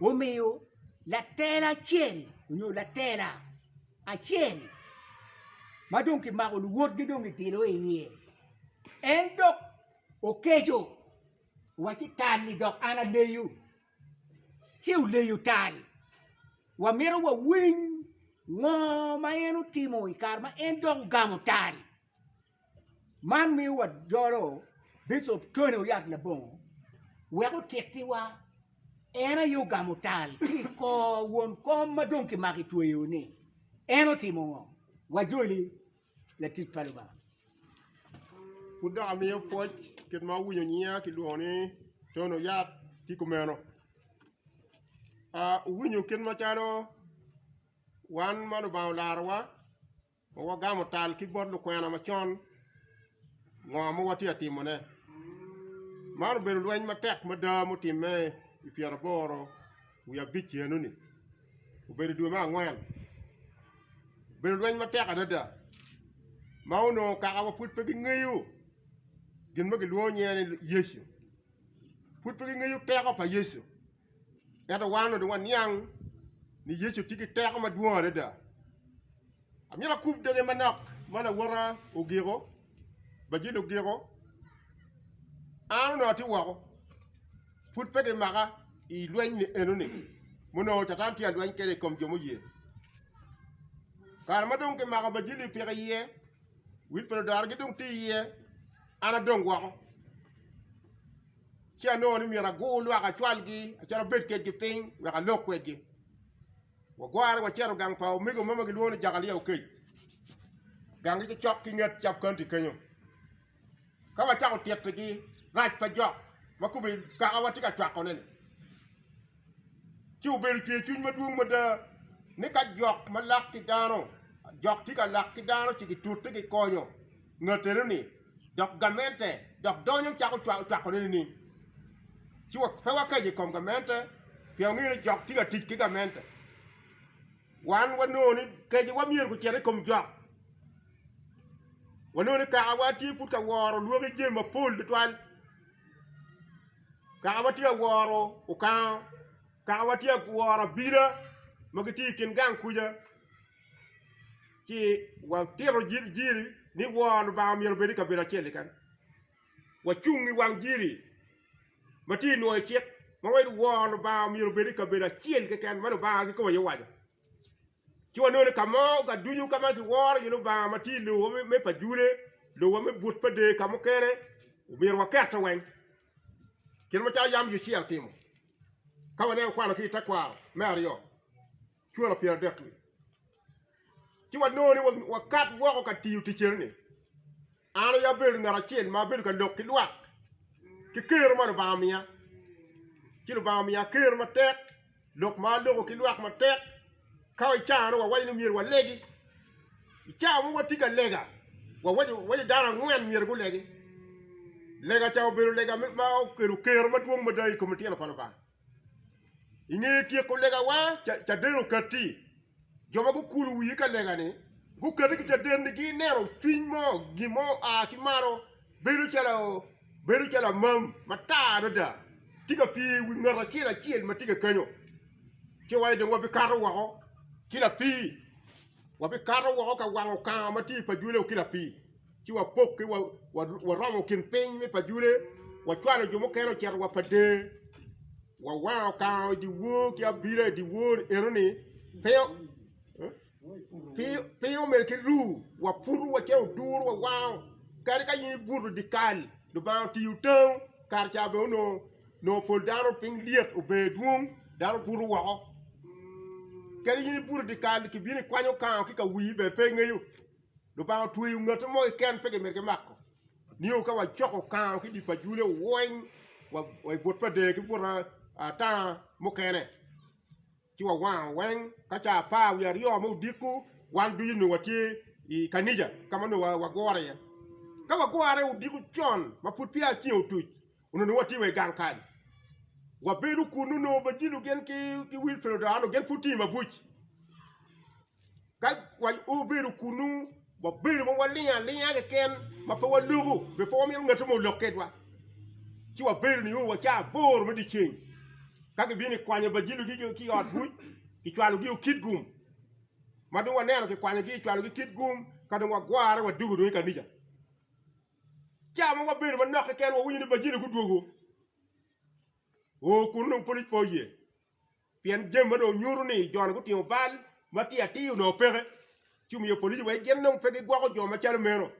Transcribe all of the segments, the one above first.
Omiyo latela acel onyo latela acel ma dong ki mako luwotgi dong ki bilo i iye en dok okeco wa ci tal ni dok an aleyo ci oleyo tal wa mito wa winy ngo ma en otimo i kare ma en dok ogamo tal. Man miyo wajolo Bicop Tony Oyat Labongo wek otittiwa. En aye ogamo tal ki i kor won kom ma dong kimako i tweyo-ni. En otimo ngo? Wajoli latic pa Lubanga. Pud dok amiyo pwoc kit ma awinyo nyiya kilwongo ni Tony Oyat tye kumeno. Aa, wuwinyo kit macalo wan ma Lubanga olarowa Pe wagamo tal ki bot lukwena macon ngo ma watye ka timone. Man obedo lweny matek mada ma otimme i pyeraboro wiye abic enoni, obedo i dwe me angwen. Obedo lweny matek adada ma onongo kakawa pud pe gingeyo gin ma gilwongo nyinge ni Yecu, pud pe gingeyo teko pa Yecu. Ento wan onongo dong waniang ni Yecu tye ki teko madwong adada. Amyero akub doge manok ma lawota ogiko, Bajil ogiko. An onongo atye woko, pud pe kimaka i lweny ni enoni ma onongo Catan tye ka lweny kwede i kom jo muye. Kare ma dong kimako Bajil-li opiko iye, wil pa ludora-gi dong tye iye, an adong woko. ci anongo ni myero agur lwak acwalgi acalo abed kwedgi piny wek alok kwedgi. Wagware wacito gang pa omego mo ma gilwongo ni Jakalia Okec. Ganggi cocok ki nget cab kaunti kenyo. Ka wacako tyetigi, rac pa jok ma kome kakawa tye ka cwakone-ni ci obedo cwercwiny madwong mada ni ka jok ma lak ki dano jok tye ka lak ki dano ci gitute gikonyo. Ngat enoni dok gamente dok donyo cako cwakone nining? Ci pe wakeco i kom gamente pien wangeyo ni jok tye ka tic ki gamente. Wan wanongo ni kecowa myero gucit i kom jok. Wanongo ni kakawa tye pud ka woro lwaki jami mapol tutwal, kakawa tye ka woro okango, kakawa tye ka woro abila ma gitye i kin gang kuca. ci watito jiri ni wor Lubanga myero obed i kabedo acel keken, wacung i wang jiri ma tye nwoyo i cik ma waci ni wor Lubanga myero obed i kabedo acel keken ma Lubanga kiketo iye waco, ci wanongo ni ka mo ducu ka ma kiworo iye Lubanga ma tye i lobo me pa Jude, lobo me but pa Der ka mukene omyero wakete weng kit macalo yam Yucia otimo ka waneno kwano ki i tekwaro me aryo. cwalo pyeradek-ki, ci wanongo ni wakat woko ka tiyo tic eno-ni, an aye abedo ngat acel ma abedo ka lok ki lwak ki kero ma Lubanga omiya, ci Lubanga omiya kero matek, lok ma aloko ki lwak matek, ka i caa-nu wawaco ni myero walegi, i caa ma watye ka lega wawaco dano angwen myero gulegi, lega ca obedo lega ma okelo kero madwong mada i kom litino pa Lubanga. I nge tyeko legawa, caden okatti. Jo ma gukulo wigi ka lega-ni gukati ki caden-ni gineno cwiny mo, gin mo oa ki malo bedo calo bedo calo amam matar adada tye ka pye i wi ngat acel acel ma tye kakanyo ci wa dong wabikato woko ki lapii, wabikato woko ka wango kanga ma tye i pajwele-wu ki lapii. ci wapok ki waromo kin piny me Pajule, wacwalo jo mukene ocito wa Padee, wawango kango i dyewor ki abila i dyewor enoni, piny omel ki ru, waputo wa cito oduro wawango, kadi ka in ibuto i dyekal, Lubanga otiyo tango, kare ca bene onongo pol dano piny lyet ober dwong, dano buto woko, kadi in ibuto i dyekal kibino ikwanyo kango ki ka wii bene pe ingeyo. Lubanga otweyo ngati mo keken pe gimito kimako nio ka wacoko kano ki dye pajule weng wa i but pa dee ki but atanga mukene ci wawango weng ka caa apar wiye aryo ma odiko wan ducu nongo watye i kanija ka ma nongo wagure iye ka wagure odiko con ma pud peya ceng otuc onongo nongo watye wa i gang kany wabedo kunu nongo Bajilo gin ki Wilfredo Odoa nongo gin pud tye i mabuc. Ka wabedo kunnu, wabedo ma walingo alinga keken ma pe waloko, be pe wamito ngati mo olok kedwa. Ci wabedo nio wa caa aboro me dyeceng ka kibino kikwanyo Bajilo-gi ki i ot buc, kicwalogi o Kitgum. Ma dong waneno kikwanyogi kicwalogi Kitgum ka dong wagwore wadwogo dong i kanica. Caa ma wabedo manok keken wawinyo ni Bajilo gudwogo oo kunnu pud po iye. Pien jami ma dong nyuto ni jo-ni gutingo bal matir atir onongo peke, ci omiyo police wek gin dong pe gigwoko jo macalo meno.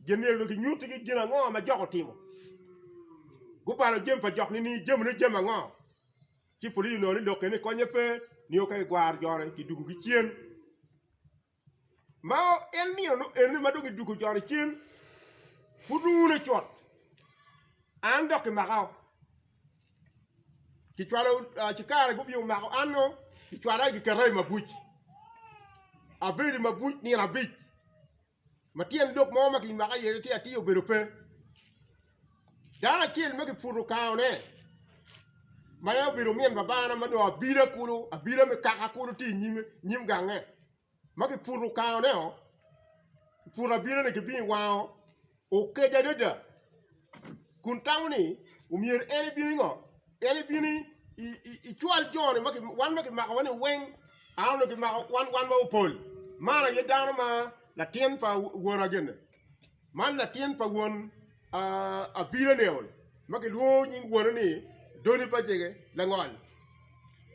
Gin myero dong kinyuttigi gin ango ma jok otimo. Gubalo jami pa jok nining? Jamine jami ango? Ci police onongo ni lok keni konye pe, nio ka gigwaro jo-ni, kidugogi cen. Ma en nino nu ene ma dong idwogo joni cen, pud wune cut, an dok kimaka o, kicwalo ci kare gubin omako an o, kicwala giketa i mabuc, abedo i mabuc nino abic, ma tyen lok mo ma kimaka iye tye atir obedo pe. Dano acel ma kiputo kangone ma en obedo omin babana ma dong abida kulu abida me kaka kulu tye i nyime nyim gange ma kiputo kangone-o kiputo abidane kibino i wango okeco adada kun tamo ni omyero en ebin i ngo en ebin icwal joni wan ma kimakowa-ni weng an onongo kimako wan ma opol man aye dano ma latin pa wonwa gin-ni. Man latin pa won Abinanael ma kilwongo nying wone ni Doni-pajege langol.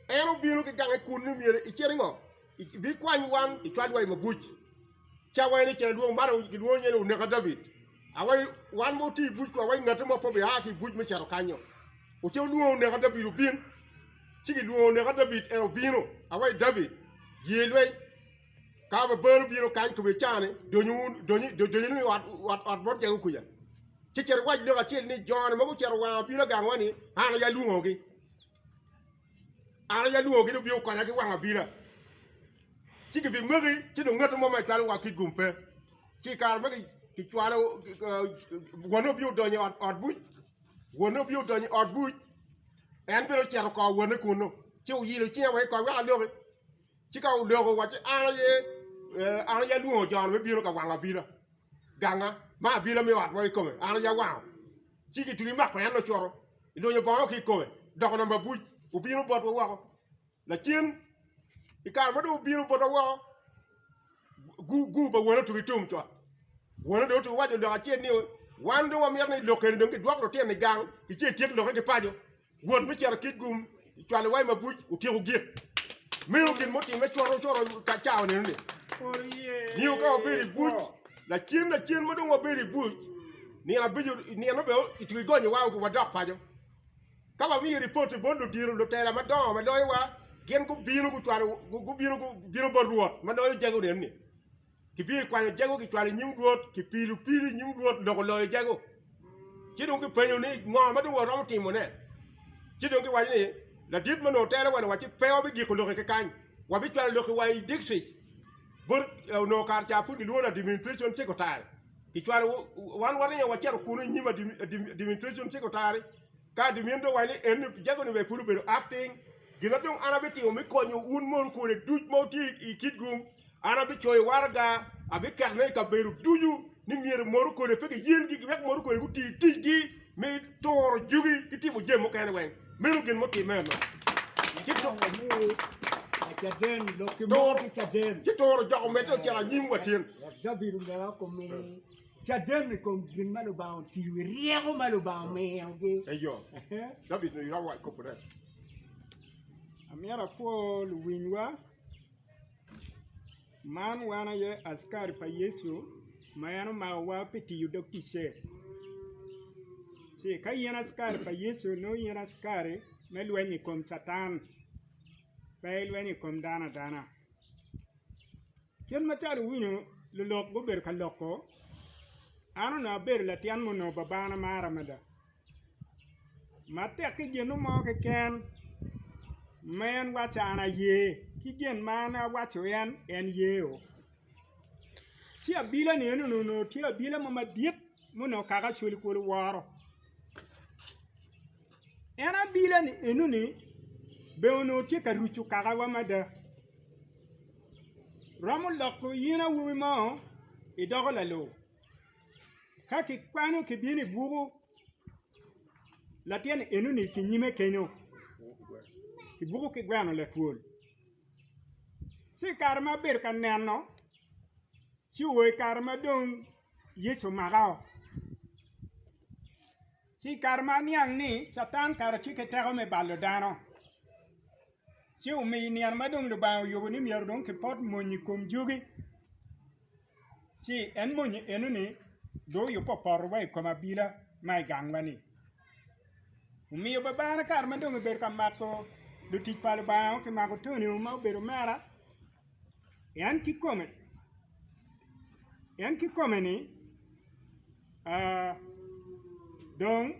En obino ki gange kun ni myero icit ingo? Ibikwany wan icwal wa i mabuc. Ca wa en icen adwong man gilwongo nyinge ni Oneka David. Wan ma oti i buc kong, ngati mo pe obia ki i buc me cito kanyo. Oce olwongo Oneka David obin. Ci gilwongo Oneka David, en obino. Awayi David, ye lweny. Ka Babel obino kany kome ica ni, dony wunu i ot bot Jakobo kuca, ci cit iwac lok acel ni, Jo-ni ma gucito wanga obino aganwa-ni, an aye alwongogi, an aye alwongogi dong gubikokonya ki wang abila. Ci gibimaki, ci dong ngati mo ma icwalo wa kit gum pe. Ci i kare ma kicwalo, wonne obino donyo i ot buc, wonne obino donyo i ot buc, en bene ocito oko wonne kunnu, ci oyilo cinge wa ki i kot wek aloki. Ci ka odoko wacci, 'An aye, an aye alwongo jo-ni me bino ka wango abila ganga, ma abila me ot mo kikome an aye awango. Ci gitwii mako en ocuto, ilunyo bongo ki ikome, doko namba abuc, obino botwa woko. Lacen, i kare ma dong obino botwa woko, gu-gu pa wone otuko i tum cot. Wone dong otuko owaco lok acel ni, 'Wan dong wamito ni lok eni dong kidwok lutino i gang, ki ce etyek lokke ki paco. Wot me cito kit gum cwalo wai mabuc otyeko gik. Meno gin mutimme coro coro ka cawa neno-ni. Nio ka wabedo i buc, lacen lacen ma dong wabedo i buc, nino abico nino be itwero igonyo wa wa dok paco. Ka wamiyo ripoti bot ludito lutela madongo ma loyowa, gin gubino gucwalo gubino gubino bot Rwot ma loyo jago neno-ni. Kibiye kwanyo jago kicwalo inyim Rwot, kipilo pilo inyim Rwot loko loyo jago. Ci dong kipenyo ni ngo ma dong waromo timo ne? Ci dong kiwaco ni ladit ma nongo tero wano wa ci pe wabi giko loke ki kany, wabi cwalo loke wa i district bot nongo kare ca pud kilwongo ni administration secretary. Kicwalo wan waringo waceto kunu inyim administration secretary. Ka gimito wa ni en Pijago ni ber pud obedo acting, gin ma dong an abitimo me konyo un mon kune duc ma wutye i Kitgum, an abicoyo waraga, abiketone i kabedo ducu ni myero modo kune pe giyengi wek modo kune guti ticgi me turo jugi ki timo jami mukene weng. Meno gin mutimme eno. Ci to- Caden, lok ki mo Toro. ki caden. ci turo jok omedde ocito anyim wa tin. Wek David omera okomi. Caden i kom gin ma Lubanga otiyo i ryeko ma Lubanga omiyogi. Eyo, David onongo iromo waco kop ne. Amyero apwo luwinywa. Man wan aye askari pa Yecu ma en omakowa pi tiyo dog ticce. Ci ka in askari pa Yecu nongo in askari me lweny i kom Catan, pe ilweny i kom dano adana. Kit macalo iwinyo lulok gubedo ka loko, an onongo abedo latyen ma onongo babana maro mada ma tek ki gin mo keken ma en waco an aye ki gin ma an awaco en, en yeo ci abila ni eni onongo tye abila mo madit ma onongo kaka cwali kwolo woro. En abila ni enoni be onongo tye ka rucu kakawa mada. Romo loko in awobi mo idoko lalo. Ka kikwano kibino i buku latin enoni kinyime kenyo i buku ki gweno latwol. Ci i kare ma abedo ka neno ci o i kare ma dong Yecu omaka. Ci i kare ma aniang ni Catan kara tye ki teko me balo dano, ci omiyo i nino ma dong Lubanga oyubo ni myero dong kipot mony i kom jugi, ci en mony enoni dong oyubbe opoto wa i kom abila ma i gangwa-ni. Omiyo babana kare ma dong ebedo ka mako lutic pa Lubanga ki mako Tonio ma obedo omera, En kikome, en kikome ni uh, dong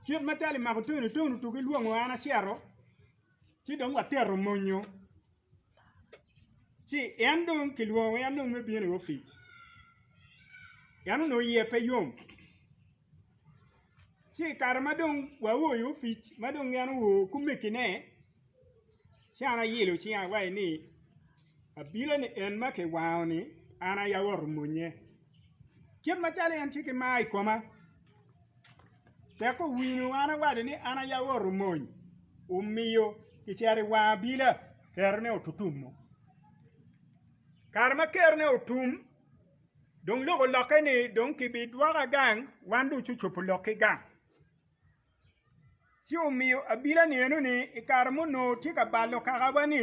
kit macalo imako tunu tunu tuku ilwongo an acito ci dong watero monyo ci en dong kilwongo en dong me bino i opic en onongo iye pe yom ci i kare ma dong waoyo opic ma dong en oa kumekine ci an ayelo cinga awaci ni abino ni en ma kiwango ni an aye awoto monnye kit macalo en tye ki mar i koma tek owinyo an awaco ni an aye awoto mony omiyo kicito i wang abila kerone otutumo kare ma kerone otum dong loko lokke ni dong ki bi dwoka gang wan dong cu cobo lok ki gang ci omiyo abila ni eno ni i kare ma onongo tye ka balo kaka wa ni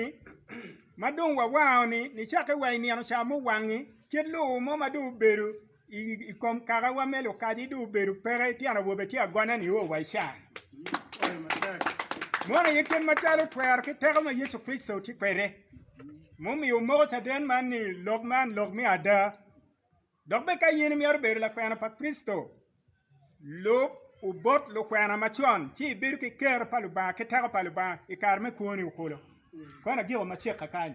ma dong wa wango ni ni cake wa i nino ca ma owangi kit lobo mo ma dong obedo i kom kaka wa me lukaci dong obedo peke tyen awobe tye agone ni o wa i caa ni meno aye kit macalo twero ki teko ma Yecu Kricito tye kwede. Mumiyo omoko caden man ni lok man lok me ada. Dok bed ka in imyero bedo lakwena pa Kricito, lub obot lukwena macon ci ibedo ki ker pa Lubanga ki teko pa Lubanga i kare me kwoni okolo. Kona jiko macek kakany.